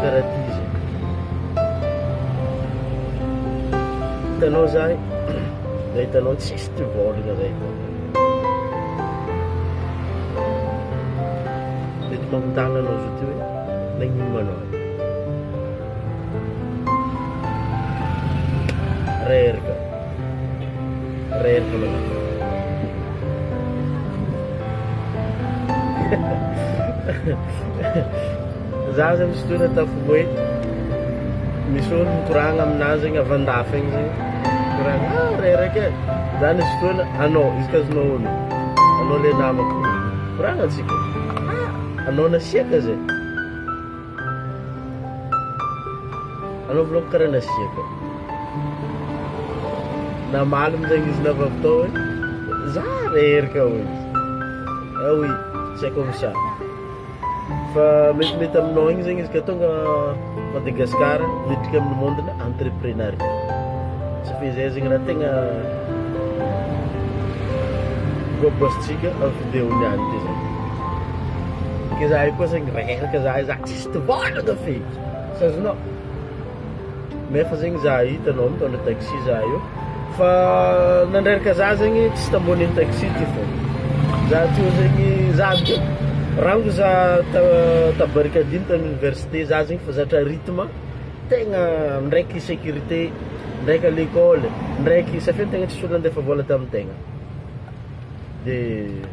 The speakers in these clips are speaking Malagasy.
Karaha ty izy e. Hitanao zay, zay hitanao tsisy ty vôlagna zay hitanao. Mety magnotagna anao zao ty hoe nagnino ma anao e. Reraka. Za zany sitora ataoko hoe misy olo mikoragna aminahy zegny avy andafy agny zegny mikoragna ah reraka e za nisy fotoana anao izy ka azonao onony anao le namako mikoragna antsika ah anao nasiaka zay Anaovanaovy karaha nasiaka namaly amin'izay izy navavy tao hoe za re ery ka hoy izy. Ah oui, tsy haiko amin'ny saha. Fa metimety aminao igny zegny izy ka tonga Madagascar miditra amin'ny monde-na entreprenariat. Tsy fehizay zegny raha tegna voaboasintsika amin'ny vidéo niany teo zany. Ke zahay koa zegny reraka zahay za tsisy tivàna da feky tsy azonao nefa zegny za hitanao mitondra taxi za io fa nandreraka za zegny tsy tambonin'ny taxi ty fô za teo zegny za avy teo rango za ta- ta barricadine tany université za zegny fa zatra rythme tegna ndraiky sécurité ndraiky à l'école ndraiky satria ny tegna tsisy olo nandefa vôla tamin'ny tegna dia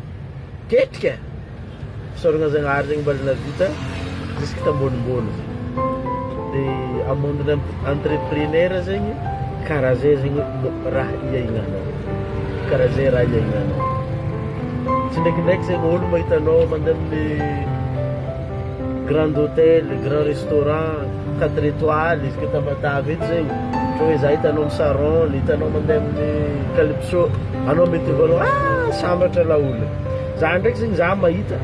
tetika fisaorana Zagnahary zegny mbala navita jusque tambonimbony zegny dia a monde ny entrepreneur zegny karaha zay zegny raha hiaignanao karaha zay raha hiaignanao tsy ndraikindraiky zegny olo mahita anao mandeha amin'ny Grand Hotel, Grand Restaurant, quatre etoiles, isika Tamatave eto zegny, ohatra hoe za hitanao am Saron, hitanao mandeha amin'ny Calypso, anao mety ho voalahany ah sambatra laolo e! za ndraiky zegny za mahita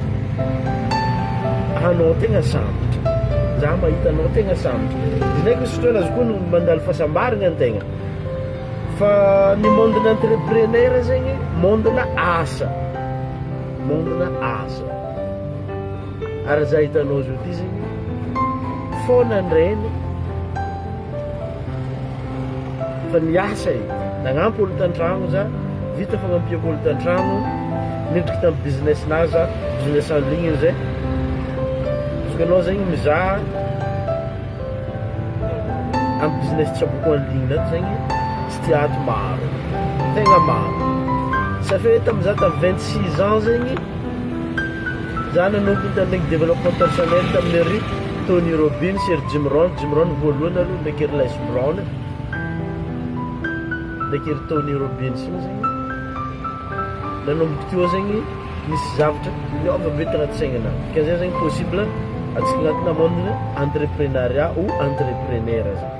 anao tegna sambatra, za mahita anao tegna sambatra, izy ndraiky misy fotoana aza koa no mandalo fahasambaragna ny tegna, fa ny monde-na entrepreneur zegny monde-na asa, monde-na asa. Ary izay hitanao izao ity izany foana ny Reny fa niasa e, nagnampy olon-tantragno za, vita fagnampiako olon-tantragno, nidriky tamin'ny business-nahy za, business en ligne izay. Izy koa ianao zegny mizaha amin'ny business tsaboko en ligne ato zegny, tsy tia ato maro, tegna maro. Ça fait tamin'izaho tamin'ny vingt six ans zegny. Izaho nanompo ny tanin'iny développement personnel tamin'ny ry Tony Robbins sy ry Jim Rohn, Jim Rohn voalohany aloha ndraiky ry Les Brown e, ndraiky ry Tony Robbins iny zegny, nanomboka teo zegny nisy zavatra niova be tagnaty saignanah, dikan'izay zegny possible atsika agnatinà monde-n'ny entreprenariat ou entrepreneur zany.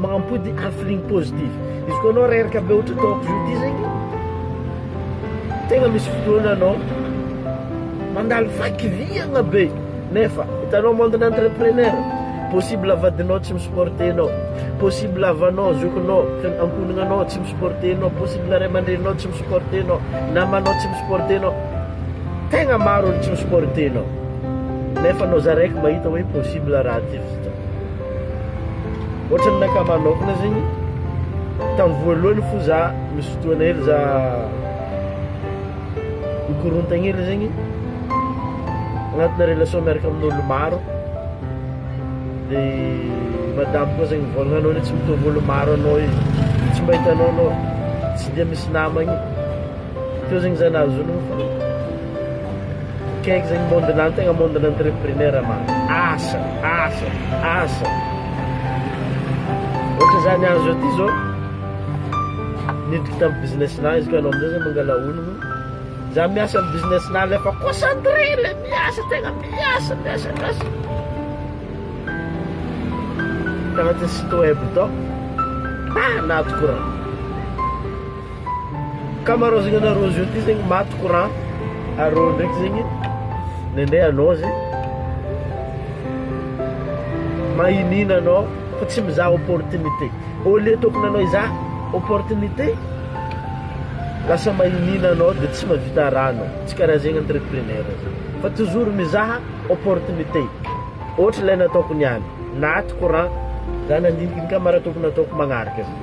Mampody ary feeling positif. Izy koa anao reraka be ohatra ataoko zao ity zegny, tegna misy fotoagna anao mandalo vaky viagna be nefa hitanao monde-na entrepreneur possible vadinao tsy mi-supporter anao, possible havanao, zokinao, fian- ankohonanao tsy mi-supporter anao, possible ray aman-dreninao tsy mi-supporter anao, namanao tsy mi-supporter anao, tegna maro olo tsy mi-supporter anao nefa anao za raiky mahita hoe possible raha ty. Ohatrany naka manokana zegny tam voalohany fô za misy fotoagna hely za mikorontagna hely zegny agnatina relation miaraka amin'ôlo maro de madamo koa zegny mivôlagna anao le tsy mitovy ôlo maro anao e tsy mba hitanao anao tsy de misy namagny, teo zegny za nahazo ologno fa. Kaiky zegny monde na tegna monde na entrepreneur ma asa asa asa ohatra za niany zao ty zao niditra tam business na izy ka anao amizay zany mangala ologno za miasa am business na le fa concentre le miasa tegna miasa miasa miasa tagnatin'ny site web tao ah nahato courant Ankamaroazagna anareo zeo ty zegny maty courant arô ndraiky zegny nendrey anao zegny magnina anao fa tsy mizaha opportunité au lieu tokony anao hizaha opportunité lasa magnina anao de tsy mahavita raha anao tsy karaha zegny entrepreneur zany fa toujours mizaha opportunité ohatra ilay nataoko niany naty courant za nandinika ny camarade tokony ataoko magnaraka zany.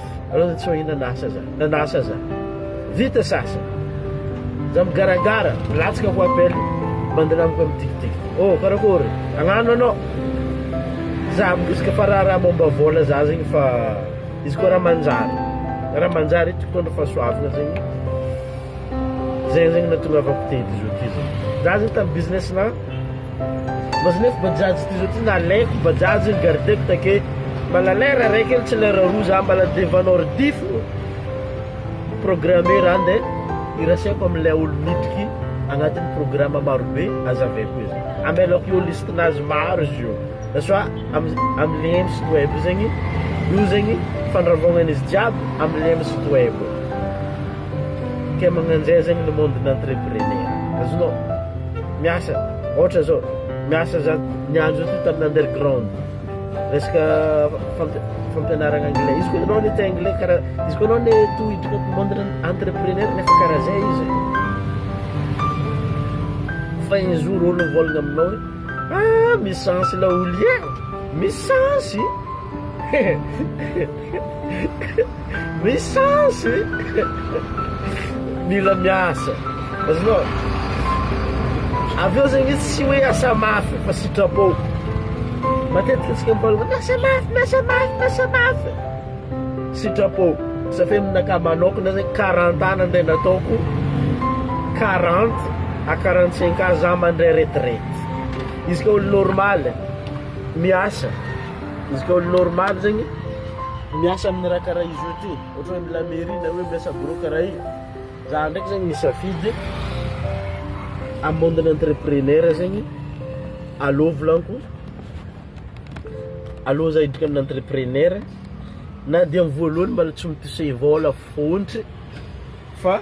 Alou za tsy mahina na asa aza, na na asa aza. Vita sasa. Za migaragara, milatsaka ko appel. Bandina amiko mitikitikitika. Oh, karakory? Agnano anao. Za miresaka fa raharaha momba vola za zegny fa izy koa raha manjary. Raha manjary eto mitondra fahasoavana zegny. Zay zegny natongavako teto zao ty zegny. Za zegny tamin'ny business-na Maznef bajaj ty zao ty nalaiko bajaj iny gardeko take mbala lera raika ely tsy lera roa za mbala devan ordi fô programme raha nde irasaiko amle olo miditra ty agnatiny programme maro be azaveko izy amelako eo liste nazy maro izy io na soit amle site web io zegny io zegny fandravaognany izy jiaby amle site web ke magnanjay zegny le monde n'entrepreneur azonao. miasa ohatra zao miasa za niandry zao tamin'ny underground resaka fampianarana anglais izy koa ianao ny te anglais karaha izy koa ianao ny to hiditra monde entrepreneur nefa karaha zay izy fa un jour olo mivolagna aminao hoe ah misy chance ilay olo e misy chance Misy chance e! Mila miasa. Azonao? Avy eo zegny izy tsy hoe asa mafy fa sitrapo. Matetika antsika miparitaka miasa mafy, miasa mafy, miasa mafy. Sitrapo. Sa fe aminakahy manokana zegny quarante ans nandeha nataoko quarante à quarante cinq ans za mandray retraite. Izy ka olo normal miasa. Izy ka olo normal zegny miasa aminy raha karaha izy io ty ohatra hoe mila mairie na hoe miasa bureau karaha io za ndraiky zegny nisafidy am monde n'entrepreneur zegny aleo volaniko aleo za hiditra amina entrepreneur na dia am voalohany mbola tsy mi toucher vola fontry fa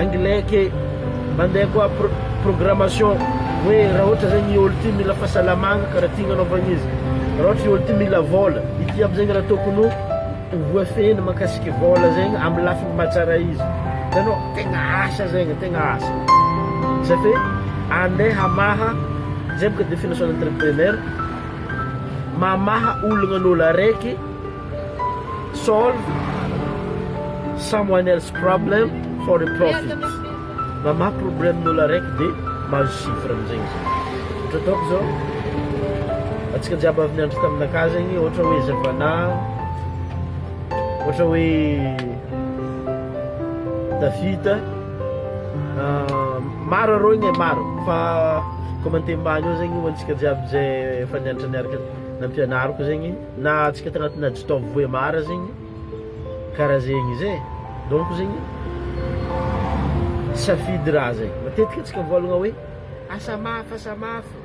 Anglais ke mandeha koa programmation hoe raha ohatra zegny i olo ty mila fahasalamagna karaha ty agnanaovagna izy raha ohatra i olo ty mila vôla ity jiaby zegny raha tokony ho voafehiny mahakasiky vôla zegny amy lafiny maha tsara izy hitanao tegna asa zegny tegna asa zay fe andeha hamaha zay boka definition-n'ny entrepreneur mamaha olagna an'olo araiky Solve someone else problem for a profit, mamaha problème n'olo araiky de mahazo chiffre amizay izy. Ohatra ataoko zao, antsika jiaby avy niandry taminakah zegny ohatra hoe Zevana, ohatra hoe David, maro arô igny e, maro fa commenter mbany eo zegny ho antsika jiaby ze efa nianatra niaraka nampianariko zegny. na atsika tagnatina jitaovy voemara zegny karaha zegny zay donc zegny safidy raha zay matetika atsika mivolagna hoe asa mafy asa mafy